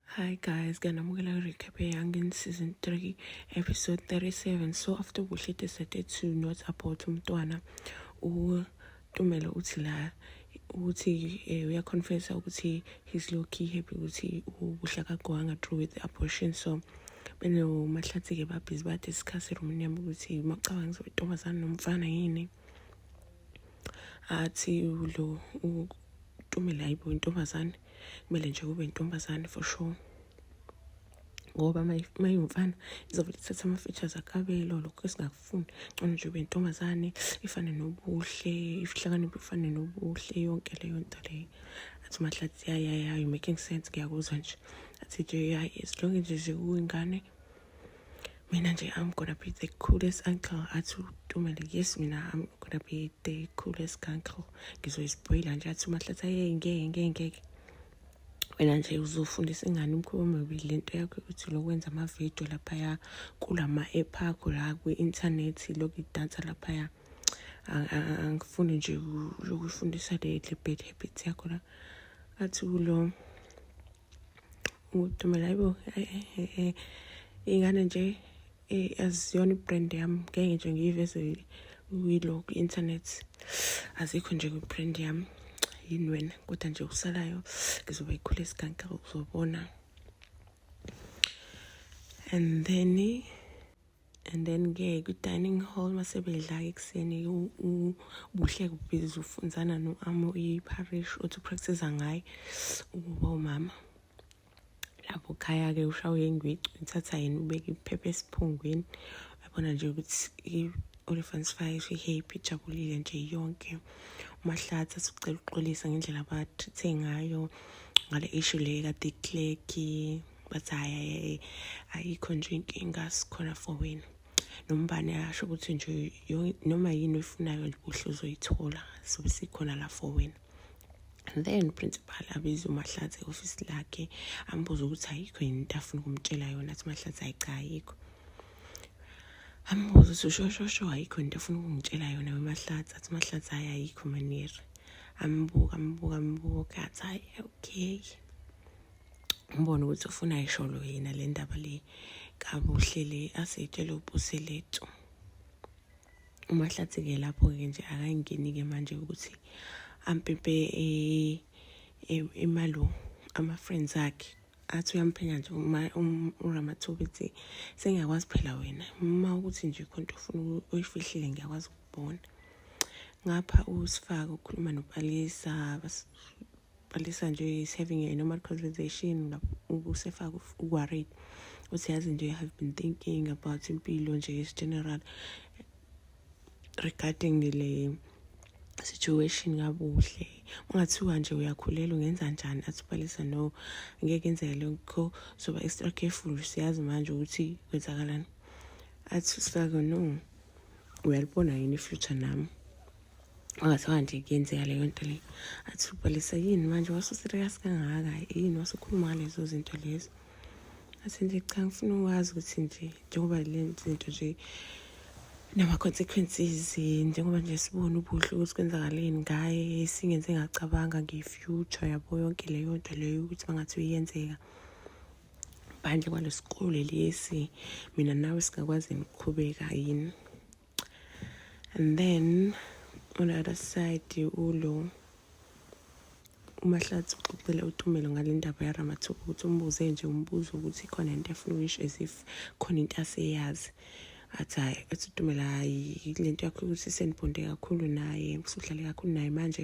Hi guys, ngiyanamukela ku-recap eYangin season 3 episode 37 so after kuhle decided to not abort umntwana utumele uthi la ukuthi eh, uyaconfessa ukuthi he's low key happy ukuthi ubuhle akagowanga through with the abortion so benomahlathi-ke babhizi badiscuss erumini yami ukuthi macabanga ukuthi intombazane nomfana yini athi lo utumela yibo intombazane kumele nje kube intombazane for sure ngoba mayimfana izovele ithathe ama-features akabelo lokho esingakufuni ngcono nje ube intombazane ifane nobuhle ihlakaniphe ifane nobuhle yonke leyo nto leyo athi umahlathi yayayayo making sense ngiyakuzwa nje athi nje yayi as long nje nje uyingane Mina nje I'm gonna be the coolest uncle athi uTumele yes mina I'm gonna be the coolest uncle ngizoyispoila nje athi uMahlatha yeye ngeke ngeke ngeke wena nje uzofundisa ingane umkhuba omubi le nto yakho ukuthi lokwenza amavidiyo laphaya kulama-app akho la kwi-inthanethi lokhu idansa laphaya angifuni nje lokuyifundisa le bad habit yakho la athi kulo udumela yibo eh, eh, eh, ingane nje aziyona ibrand yami ngeke nje ngiyiveze kuyilo ku-internet azikho nje kwibrand yami yini wena kodwa nje okusalayo ngizoba yikhule isiganka uzobona and then and then ke kwi-dining hall masebedla-ke ekuseni ubuhle kubhizi ufunzana no-amo iparish othi upractiza ngaye ukuba umama lapho khaya-ke ushawe ingwici uthatha yena ubeke iphepha esiphungwini uyabona nje ukuthi i-olifants fire ihappy ijabulile nje yonke umahlathi asucela uxolisa ngendlela abathithe ngayo ngale ishu le kade ikleki but hayi ayikho nje inkinga sikhona for wena nombani asho ukuthi nje noma yini oyifunayo nje kuhle uzoyithola sobe sikhona la for wena then principal abiza umahlathi e-ofisi lakhe ambuza ukuthi ayikho yini into afuna ukumtshela yona athi mahlathi hayi cha ayikho ambuza ukuthi ushoshosho ayikho into afuna ukungitshela yona wemahlathi athi mahlathi hayi ayikho maniri ambuka ambuka ambuka athi hayi okay ngibona ukuthi ufuna isholo yena le ndaba le kabuhle le aseyitshele upuselethu umahlathi-ke lapho-ke nje akangeni-ke manje ukuthi ampimpe e, e, imalo ama-friends akhe athi uyamphenya nje uramathuba ethi sengiyakwazi phela wena uma ukuthi nje khona into ofuna uyifihlile ngiyakwazi ukubona ngapha usifaka ukhuluma nopalisa qalisa nje is having a normal conversation usefaka uworried uthi yazi nje i have been thinking about impilo nje is general regarding le situation kabuhle ungathiwa nje uyakhulelwa ungenza njani athi ubalisa no ngeke enzeke lokho soba extra careful siyazi manje ukuthi kwenzakalani athi saka no uyalibona yini ifuture nami angathiwa nje kuyenzeka leyo nto leyo athi ubhalisa yini manje wasuserious kangaka yini wasukhuluma ngalezo zinto lezo athi nje cha ngifuna ukwazi ukuthi nje njengoba le zinto nje nama-consequences njengoba nje sibone ubuhle ukuthi kwenzakaleni ngaye singenze ngacabanga nge-future yabo yonke leyo nto leyo ukuthi bangathi uyenzeka phandle kwalesikole lesi mina nawe singakwazi niqhubeka yini and then on the other side ulo umahlathi uxoxele utumelo ngale ndaba yaramathuba ukuthi umbuze nje umbuzo ukuthi khona into efuna uyish as if khona into aseyazi athi hhayi athi utumela hhayi le nto yakho ukuthi senibhonde kakhulu naye kusudlale kakhulu naye manje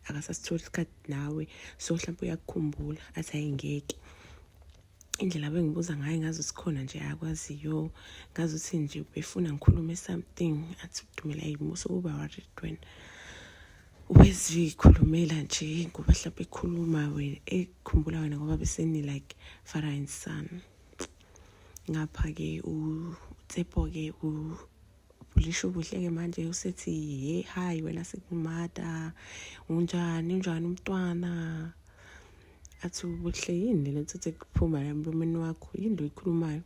akasasitholi isikhathi nawe so mhlawumpe uyakukhumbula athi hhayi ngeke indlela bengibuza ngayo ngazi sikhona nje akwaziyo ngazi ukuthi nje befuna ngikhulume something athi udumela yimi usukuba worried when wezikhulumela nje ngoba mhlawumbe ekhuluma wena ekhumbula wena ngoba beseni like father and son ngapha-ke utsepo-ke ubhulisha ubuhle-ke manje usethi he hayi wena sekumata unjani unjani umntwana athi ubuhle yini lena uthethe kuphuma la mlomeni wakho yini lo yikhulumayo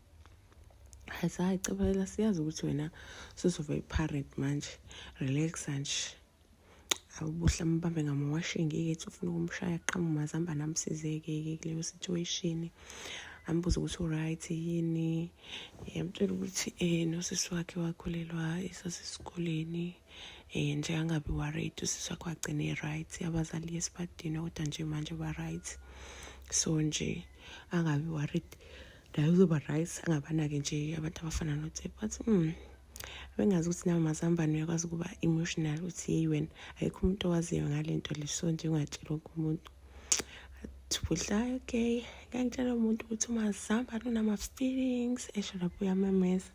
hayi hayi cabela siyazi ukuthi wena suzoba i-parent manje relax nje awubuhle amubambe ngamawashingi ethi ufuna ukumshaya qhamu mazamba namsizeke-ke kuleyo situation ambuze ukuthi uright yini yamtshela ukuthi um nosisi wakhe wakhulelwa esasesikoleni um nje angabi worried usisi wakhe wagcina e-right abazali esibadini kodwa nje manje ba-right so nje angabi worried naye uzoba-right angabanake nje abantu abafana notsep bathi um hmm, abengazi ukuthi nawe mazambane uyakwazi ukuba emotional uthi yeyi wena ayikho umuntu owaziyo ngale nto le so nje ungatshela wonke umuntu thubuhla okay ngangitshela umuntu ukuthi umazambane unama-feelings esho lapho uyamemeza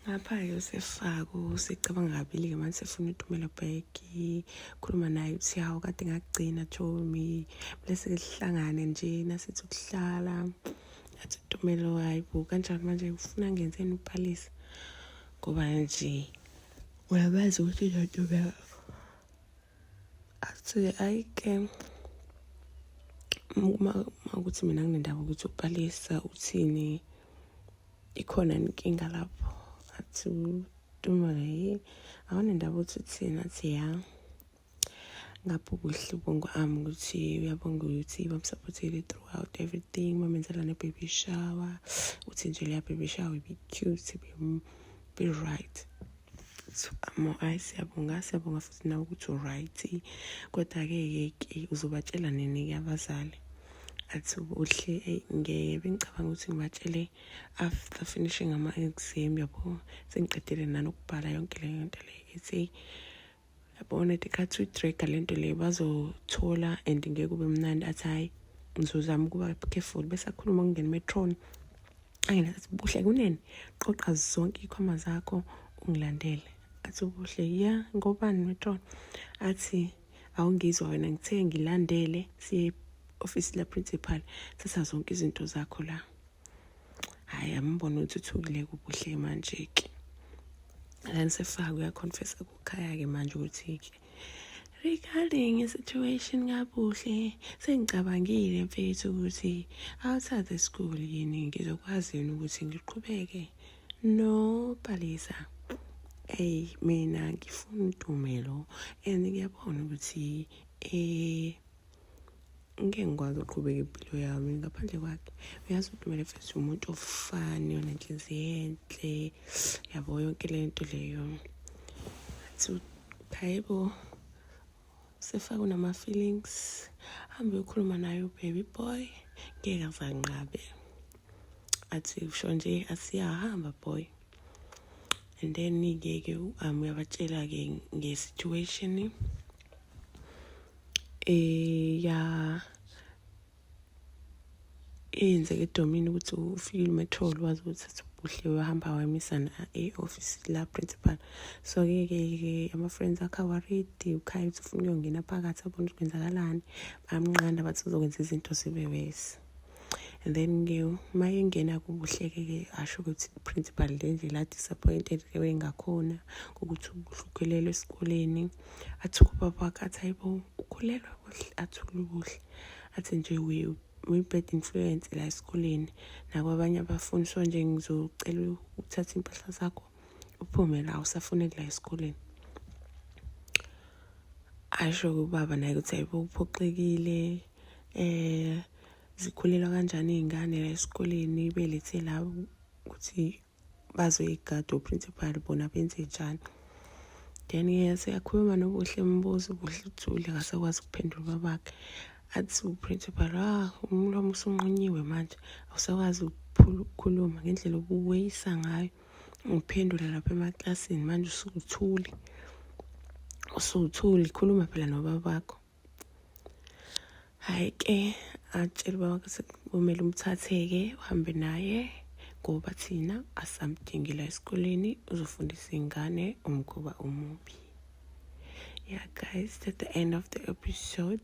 ngapha-ke usefako usecabanga kabili-ke manje sefuna utumela bheki khuluma naye uthi hawu kade ngakugcina jomi bese-ke sihlangane nje nasithi ukuhlala athi Tumelo hayi bo kanjani manje ufuna ngenzeni uphalisa ngoba nje uyabazi ukuthi uzontobeka athi ayi ke uma ukuthi mina nginendaba ukuthi uphalisa uthini ikhona inkinga lapho athi Tumelo yini awunendaba ukuthi uthini athi ya ngapho kuhle ubongo ami ukuthi uyabonga ukuthi bamsupportile throughout everything bamenzela ne-baby shower uthi nje leya baby shower ibi-cute be-right so amo ayi siyabonga siyabonga futhi nawe ukuthi uright kodwa-ke yeke uzobatshela nini-ke abazali athi uhle eyi ngeke bengicabanga ukuthi ngibatshele after finishing ama-exam yabo sengiqedile nanokubhala yonke leyo nto leyo ethi yabona ukuthi khathi uyidraga le nto leyo bazothola and ngeke ube mnandi athi hhayi ngizozama ukuba careful bese akhuluma ukungena emetroni angena athi buhle kunene qoqa zonke iy'khwama zakho ungilandele athi ubuhle ya ngobani metroni athi awungizwa wena ngithe ngilandele siye ofisi laprincipal thatha zonke izinto zakho la hhayi ambona ukuthi uthukile kubuhle manje-ke lani sefaka uyaconfessa ku Khaya-ke manje ukuthi-ke regarding i-situation kabuhle sengicabangile mfethu ukuthi outside the school yini ngizokwazi yini ukuthi ngiqhubeke no palisa eyi mina ngifuna udume lo and ngiyabona ukuthi um ngeke ngikwazi uqhubeka impilo yami ngaphandle kwakhe uyazi ukuthi kumele fesi umuntu ofani onenhliziyo enhle yabo yonke le nto leyo athi hayibo sefake unama-feelings hambe uyokhuluma naye ubaby boy ngeke azanqabe athi usho nje asiyahamba boy and then-ke ke um uyabatshela-ke nge-situation eh ya eyenzeke edomini ukuthi ufikile umetrol wazi ukuthi ubuhle wahamba wamisana e-office la principal so ke ke ke ama-friends akhe awaredi ukhaya ukuthi ufuna uyongena phakathi abona ukuthi kwenzakalani bamnqanda bathi uzokwenza izinto zibe wesi and then ke uma engena kubuhleke ke asho ukuthi i-principal le nje la disappointed ke wengakhona ukuthi ubuhlukelelwe esikoleni athi kubaba wakhe athi hayibo ukhulelwa kuhle athule ubuhle athi nje uyi-bad influence la esikoleni nakwabanye abafundi so nje ngizocela ukuthatha impahla zakho uphume la usafuneki la esikoleni asho kubaba naye ukuthi hayibo uphoxekile eh zikhulelwa kanjani iy'ngane la esikoleni belethe la ukuthi bazoyigada oprincipal bona benze njani then yese yakhuluma nobuhle mbuzo ubuhle uthule akasakwazi ukuphendula ubabakhe athi uprincipal ah umlomo usunqunyiwe manje awusakwazi ukukhuluma ngendlela obuweyisa ngayo ngiphendula lapha emaklasini manje usukuthuli usuthuli khuluma phela nobabakho hhayi ke atshele ubaba ukuthi kumele umthatheke uhambe naye ngoba thina asamdingela esikoleni uzofundisa iy'ngane umkhuba omubi yeah guys that's the end of the episode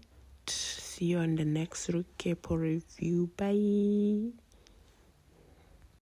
see you on the next recap or review bye